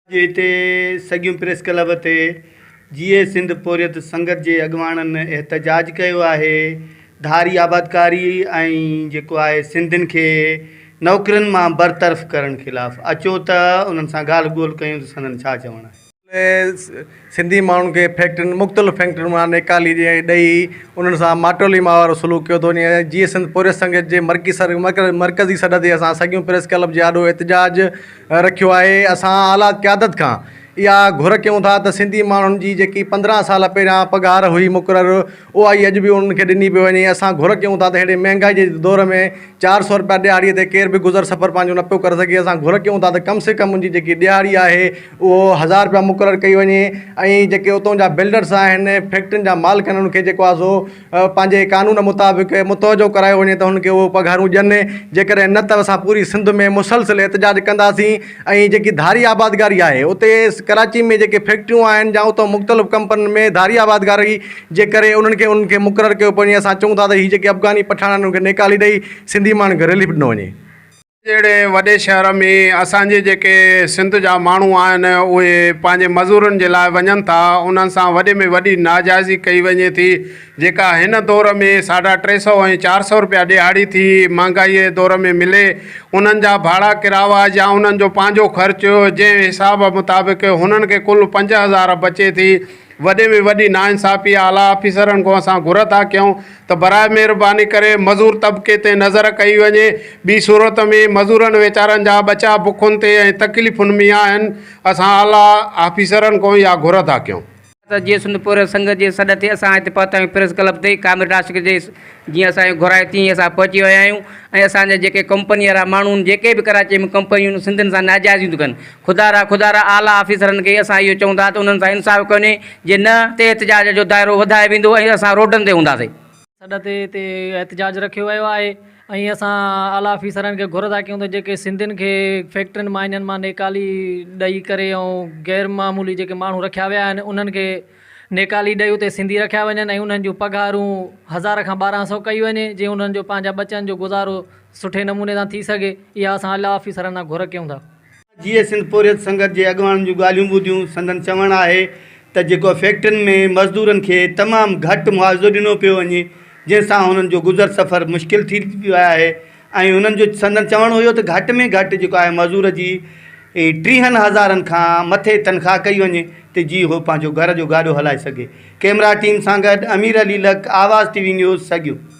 اڄ هتي سڳيون پريس ڪلب تي جيئي سنڌ پورهيت سنگت جي اڳواڻن احتجاج ڪيو آهي، ڌاري آبادڪاري ۽ جيڪو آهي سنڌين کي نوڪرين مان برطرف ڪرڻ خلاف اچو ته انهن سان ڳالهه ٻولهه ڪيون ته سندن ڇا چوڻ آهي. سنڌي ماڻهن کي فيڪٽرين مختلف فيڪٽرين مان نيڪالي ڏي ڏئي انهن سان ماٽولي ماء وارو سلوڪ ڪيو اٿو وڃي جيئي سنڌ پورهيت سنگت جي مرڪي سر مرڪز مرڪزي سڏ تي اسان سڳيون پريس ڪلب جي آڏو احتجاج رکيو آهي اسان اعليٰ قيادت کان اها گهر ڪيون ٿا ته سنڌي ماڻهن جي جيڪي پندرهن سال پهريان پگهار هئي مقرر اها ئي اڄ به انهن کي ڏني پئي وڃي اسان گهر ڪيون ٿا ته ههڙي مهانگائي جي دور ۾ چار سؤ رپيا ڏهاڙي تي ڪير به گذر سفر پنهنجو نه پيو ڪري سگهي اسان گهر ڪيون ٿا ته ڪم سي ڪم انهن جي جيڪي ڏهاڙي آهي اهو هزار رپيا مقرر ڪئي وڃي ۽ جيڪي اتون جا بلڊرس آهن فيڪٽرين جا مالڪ آهن انهن کي جيڪو آهي سو پنهنجي قانون مطابق متوجو ڪرايو وڃي ته هن کي اهو پگهارون ڏين جيڪڏهن نه ته اسان پوري سنڌ ۾ مسلسل احتجاج ڪنداسين ۽ جيڪي ڌاري آبادگاري آهي اتي ڪراچي ۾ جيڪي فيڪٽريون آهن جا اتون مختلف ڪمپنين ۾ ڌاري آبادگاري جي ڪري انهن کي انهن کي مقرر ڪيو پوي اسان چون ٿا ته هي جيڪي افغاني پٺاڻ آهن انهن کي نيڪالي ڏئي سنڌي ماڻهن کي رليف ڏنو وڃي جهڙي وڏي شهر ۾ اسان جي جيڪي سنڌ جا ماڻهو آهن اهي پنهنجي مزورن جي لاء وڃن ٿا انهن سان وڏي ۾ وڏي ناجائزي ڪئي وڃي ٿي جيڪا هن دور ۾ ساڍا ٽي سئو ۽ چار سئو رپيا ڏهاڙي ٿي مهانگائي جي دور ۾ ملي انهن جا ڀاڙا ڪراوا يا انهن جو پنهنجو خرچ جنهن حساب مطابق هنن کي ڪل پنج هزار بچي ٿي وڏي ۾ وڏي ناانصافي اعليٰ آفيسرن کان اسان گهر ٿا ڪيون ته برائي مهرباني ڪري مزور طبقي تي نظر ڪئي وڃي ٻي صورت ۾ مزورن ويچارن جا ٻچا بکن تي ۽ تڪليفن ۾ آهن اسان اعليٰ آفيسرن کان اها گهر ٿا ڪيون. ته جيئن سنڌ پورهيت سنگت جي سڏ تي اسان هتي پهتا آهيون پريس ڪلب تي ڪامريڊ عاشق جي جيئن اسان کي گهرايو تيئن ئي اسان پهچي ويا آهيون ۽ اسان جا جيڪي ڪمپني وارا ماڻهو آهن جيڪي به ڪراچي ۾ ڪمپنيون سنڌين سان ناجائزيون ٿيون ڪن خدا را خدا را اعليٰ آفيسرن کي اسان اهو چئون ٿا ته انهن سان انصاف ڪونهي جي نه تي احتجاج جو دائرو وڌايو ويندو ۽ اسان روڊن تي هونداسين. سڏ تي تي احتجاج رکيو ويو آهي ۽ اسان اعليٰ آفيسرن کي گهر ٿا ڪيون ته جيڪي سنڌين کي فيڪٽرين مائنن مان نيڪالي ڏئي ڪري ۽ غير معمولي جيڪي ماڻهو رکيا ويا آهن انهن کي نيڪالي ڏئي اتي سنڌي رکيا وڃن ۽ انهن جون پگهارون هزار کان ٻارهن سئو ڪئي وڃي جي انهن جو پنهنجا ٻچن جو گذارو سٺي نموني سان ٿي سگهي اها اسان اعليٰ آفيسرن کان گهر ڪيون ٿا. جيئي سنڌ پورهيت سنگت جي اڳواڻن جون ڳالهيون ٻڌيون، سندن چوڻ آهي ته جيڪو فيڪٽرين ۾ مزدورن کي تمام گهٽ معاوضو ڏنو پيو وڃي جنهن سان هنن جو گذر سفر مشڪل ٿي پيو آهي ۽ هنن جو سندن چوڻ هيو ته گهٽ ۾ گهٽ جيڪو آهي مزور جي ٽيهن هزارن کان مٿي تنخواه ڪئي وڃي ته جي هو پنهنجو گهر جو گاڏو هلائي سگهي ڪيمرا ٽيم سان گڏ امير علي لڪ آواز ٽي وي نيوز سگيو.